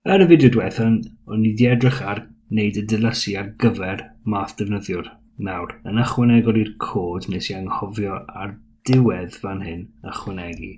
Yn y fideo diwetha, o'n i 'di edrych ar wneud y dilysu ar gyfer math defnyddiwr. Nawr, yn ychwanegol i'r cod nes i anghofio ar diwedd fan hyn ychwanegu.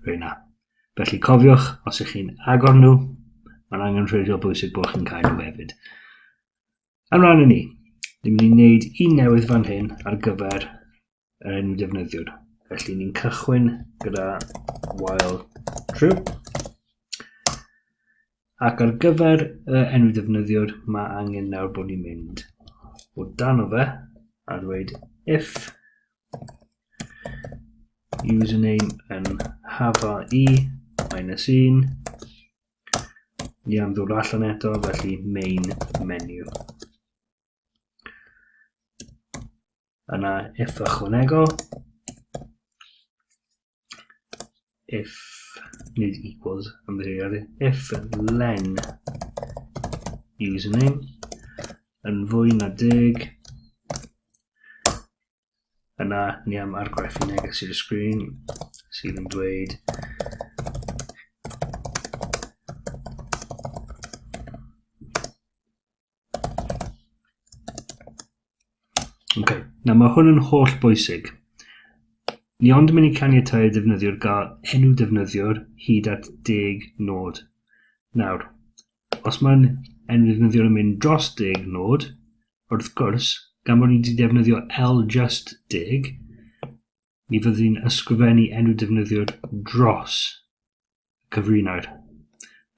Rwyna. Felly cofiwch, os ych chi'n agor nhw, mae'n angen rhwydio bwysig bod chi'n cael nhw hefyd. Ymlaen i ni. Ni'n mynd i wneud un newydd fan hyn ar gyfer yn defnyddiwr. Felly ni'n cychwyn gyda while true. Ac ar gyfer y enw defnyddiwr, mae angen nawr bod ni'n mynd o dan o fe a dweud if username yn hafa i minus 1 ni am ddod allan eto felly main menu Yna if ychwanegol, if nid equals, ymddeiriadu, if len username yn fwy na deg, yna ni am argraffu neges i'r sgrin sydd yn dweud Okay. Nawr mae hwn yn holl bwysig. Ni ond mynd i caniatau defnyddiwr gael enw defnyddiwr hyd at deg nod. Nawr, os mae'n enw defnyddiwr yn mynd dros deg nod, wrth gwrs, gan bod ni wedi defnyddio L just deg, ni fyddwn ni'n ysgrifennu enw defnyddiwr dros cyfrinair.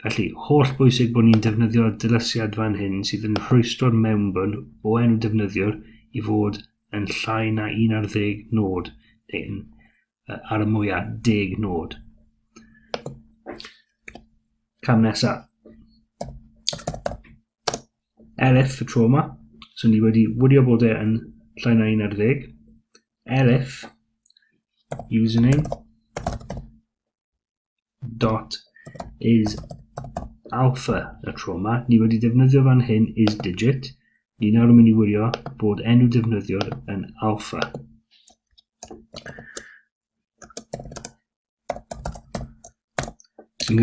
Felly, holl bwysig bod ni'n defnyddio dylesiad fan hyn sydd yn rhwystro'r mewnbwn o enw defnyddiwr i fod yn llai na 11 nod, neu'n ar y mwyaf 10 nod. Cam nesaf. Elif y tro yma, so ni wedi wylio bod e yn llai na 11. Elif, username, dot is alpha y tro yma. Ni wedi defnyddio fan hyn is digit. Ni nawr yn mynd i wirio bod enw defnyddiwr yn alpha. Sy'n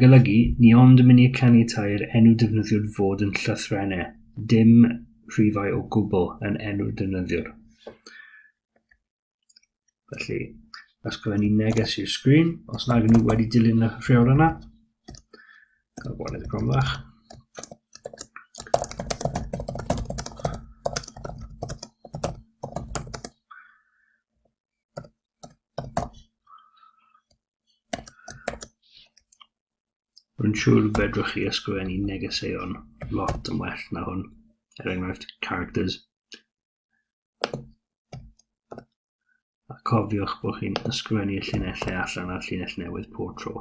golygu, ni ond yn mynd i canu tair enw defnyddiwr fod yn llythrennau, dim rhifau o gwbl yn enw defnyddiwr. Felly, ysgrifennu neges i'r sgrin, os nag nhw wedi dilyn y rheol yna. Cael gweld y gromlach. Rwy'n siŵr fedrwch chi ysgrifennu negeseuon lot yn well na hwn, er enghraifft characters. A cofiwch bod chi'n ysgrifennu y llinellau allan a'r llinell newydd pob tro.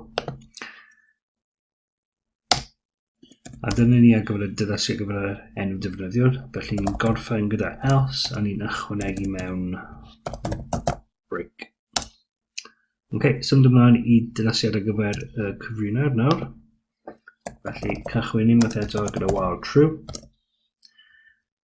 A dyna ni ar gyfer y dyddasi ar gyfer yr enw defnyddiwr. Felly ni'n gorffen gyda else a ni'n ychwanegu mewn break. Ok, symud ymlaen i dyddasiad ar gyfer y cyfrinau'r nawr. Felly cychwyn unwaith eto gyda while true.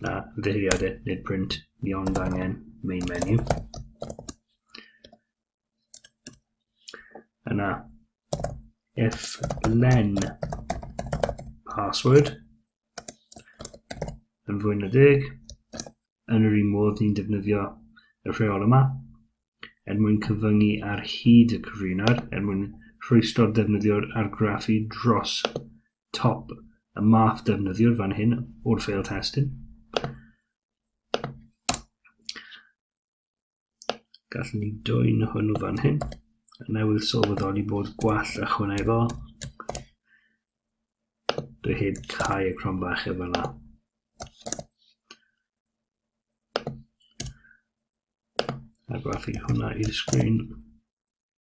Na, ymddeheuriadau, nid print, ni ond angen main menu. Yna, if len password yn fwy na deg, yn yr un modd ni'n defnyddio y rheol yma, er mwyn cyfyngu ar hyd y cyfrinwr, er mwyn rhwystro'r defnyddiwr argraffu dros top y math defnyddiwr fan hyn o'r fail testun. Gallwn ni dwy'n hwnnw fan hyn. Newydd sylweddoli bod gwall ychwanegol. Dwi heb cau y crom bach efo yna. A gwaith hwnna i'r sgrin.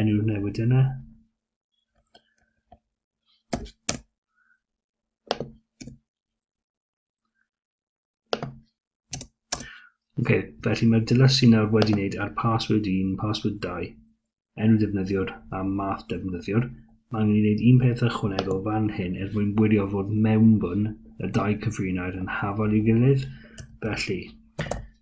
enw newid yna. Ok, felly mae'r dilys sy'n nawr wedi wneud ar password 1, password 2, enw defnyddiwr a math defnyddiwr. Mae'n mynd i wneud un peth ychwanegol fan hyn er mwyn wirio fod mewnbwn y dau cyfrinair yn hafal i'w gilydd. Felly,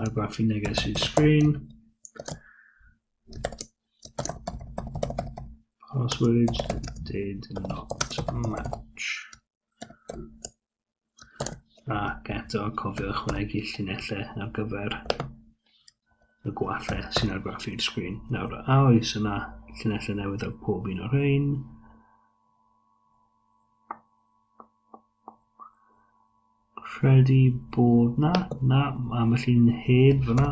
argraffu neges i'r sgrin. Password did not match. Ac eto cofio ychwanegu llinellau ar gyfer y gwallau sy'n argraffu'r sgrin. Nawr, a oes yna llinellau newydd ar pob un o'r rhain? Credu bod na, na, am y llun heb fyna.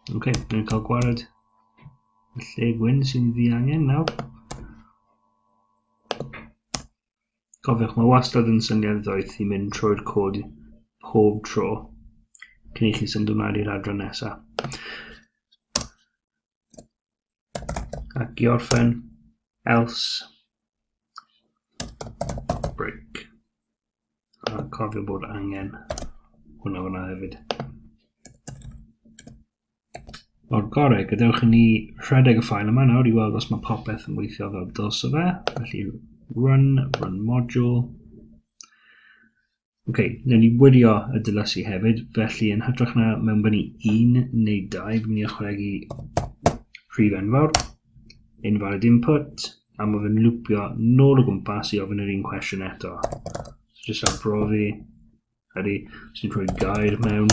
Oce, okay, ni'n cael gwared y lle gwyn sy'n ddiangen nawr. Cofiwch, mae wastad yn syniad ddoeth i mynd trwy'r cod pob tro cyn i chi symud ymlaen i'r adran nesaf. Ac i orffen, else, break. A cofio bod angen hwnna fyna hefyd. o'r gorau. Gadewch i ni rhedeg y ffael yma nawr i weld os mae popeth yn weithio fel dylse fe. Felly run, run module. Oce, okay, newn ni wirio y dylysu hefyd, felly yn hytrach na mewn fyny un neu dau, fi'n mynd i ychwanegu rhif enfawr, invalid input, a mae fe'n lwpio nôl o gwmpas i ofyn yr un cwestiwn eto. So, jyst am brofi, ydy, sy'n rhoi gair mewn,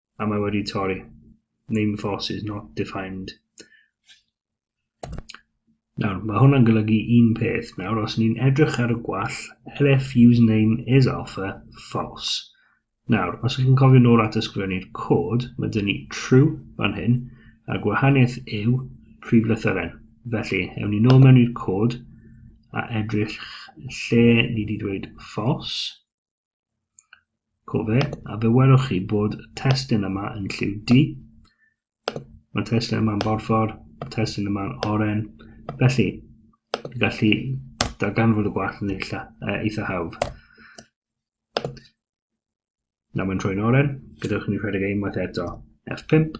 a mae wedi torri. Name force is not defined. Nawr, mae hwnna'n golygu un peth. Nawr, os ni'n edrych ar y gwall, LF username is alpha false. Nawr, os ydych chi'n cofio nôl at ysgrifennu'r cod, mae dyn ni true fan hyn, a gwahaniaeth yw prif lythyren. Felly, ewn ni nôl mewn i'r cod a edrych lle ni wedi dweud false. Cofe, a fe welwch chi bod y testun yma yn lliw D. Mae testun yma'n borffor, y testun yma'n oren. Felly, y gallu darganfod y gwall yn eitha, uh, eitha hawdd. Nawr mae'n troi'n oren, gyda chi'n rhedeg unwaith eto. F5.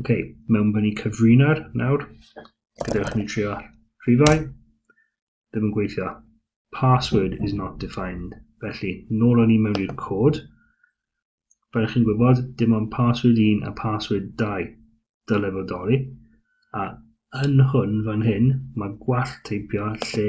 Ok, mewn bod ni'n cyfrina'r nawr. Gadewch ni trio rhifau. Ddim yn gweithio. Password is not defined. Felly, nôl o'n i mewn i'r cod. Fel chi'n gwybod, dim ond password 1 a password 2 dyle fod doli. A yn hwn fan hyn, mae gwall teipio lle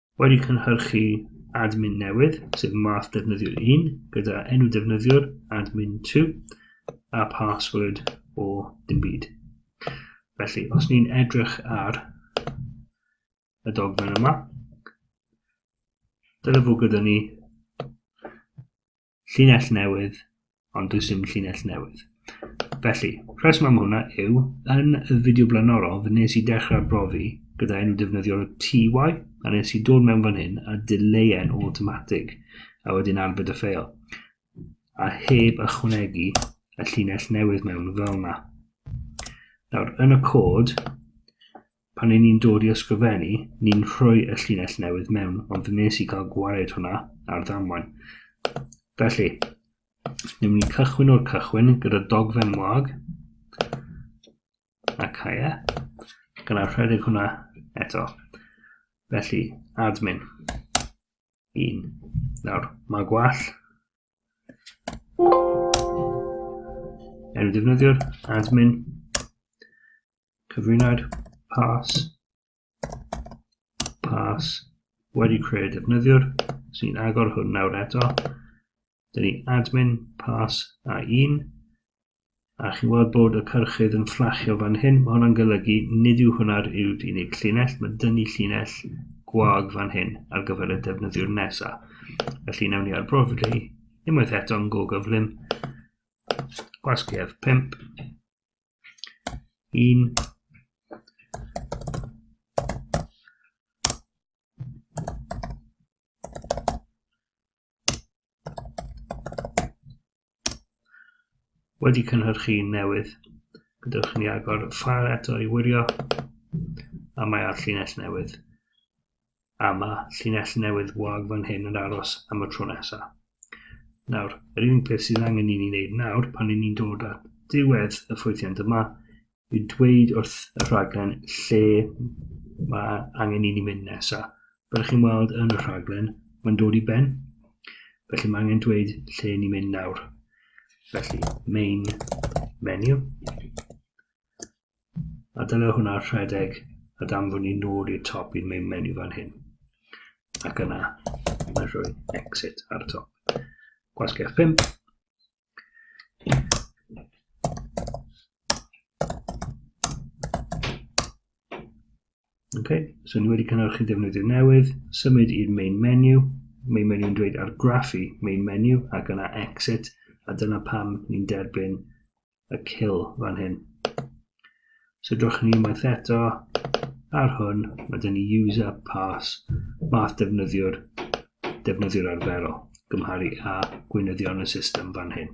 Wedi cynhyrchu admin newydd, sef math defnyddiwr 1, gyda enw defnyddiwr admin 2 a password o dim byd. Felly, os ni'n edrych ar y dogfen yma, dyle fod gyda ni Llinell newydd, ond does dim llinell newydd. Felly, rheswm am hwnna yw, yn y fideo blaenorol, fe nes i dechrau brofi gyda enw defnyddiol y TY, a nes i dod mewn fan hyn a dileuen o automatic, a wedyn arbed y ffeil, a heb ychwanegu y llinell newydd mewn fel yna. Nawr, yn y cod, pan i ni'n dod i ysgrifennu, ni'n rhoi y llinell newydd mewn, ond fe nes i gael gwared hwnna ar ddamwain. Felly, ni'n mynd i cychwyn o'r cychwyn gyda dogfen wag, a caia, gyda rhedeg hwnna eto. Felly, admin. Un. Nawr, mae gwall. Enw defnyddiwr, admin. cyfrinair pas pas wedi creu defnyddiwr sy'n agor hwn nawr eto dyn ni admin pas a un a chi'n gweld bod y cyrchydd yn fflachio fan hyn mae hwnna'n golygu nid yw hwnna'r yw unig llinell mae dyn ni llinell gwag fan hyn ar gyfer y defnyddiwr nesa felly newn ni ar brofi unwaith eto'n go gyflym gwasgedd 5 Un. Wedi cynhyrchu un newydd, gydewch ni agor y ffael eto i wirio, a mae ar llinell newydd. a ma' llinell newydd wag fan hyn yn aros am y tro nesa. Nawr, yr unig beth sydd angen i ni wneud nawr pan i ni'n dod at ddiwedd y ffwythiant yma yw dweud wrth y rhaglen lle mae angen i ni mynd nesaf. Fel chi'n weld yn y rhaglen, mae'n dod i ben, felly mae angen dweud lle ni'n mynd nawr. Felly, main menu, A dyna hwnna rhedeg a danfon ni nôl i'r top i'r main menu fan hyn. Ac yna, mae'n rhoi exit ar y top. Gwasgau 5. Ok, so ni wedi cynhyrchu defnyddwyr newydd, symud i'r main menu, main menu yn dweud argraffu main menu ac yna exit, a dyna pam ni'n derbyn y kill fan hyn. So drwch ni unwaith eto ar hwn, mae dyn ni user pass math defnyddiwr, defnyddiwr arferol, gymharu a gweinyddion y system fan hyn.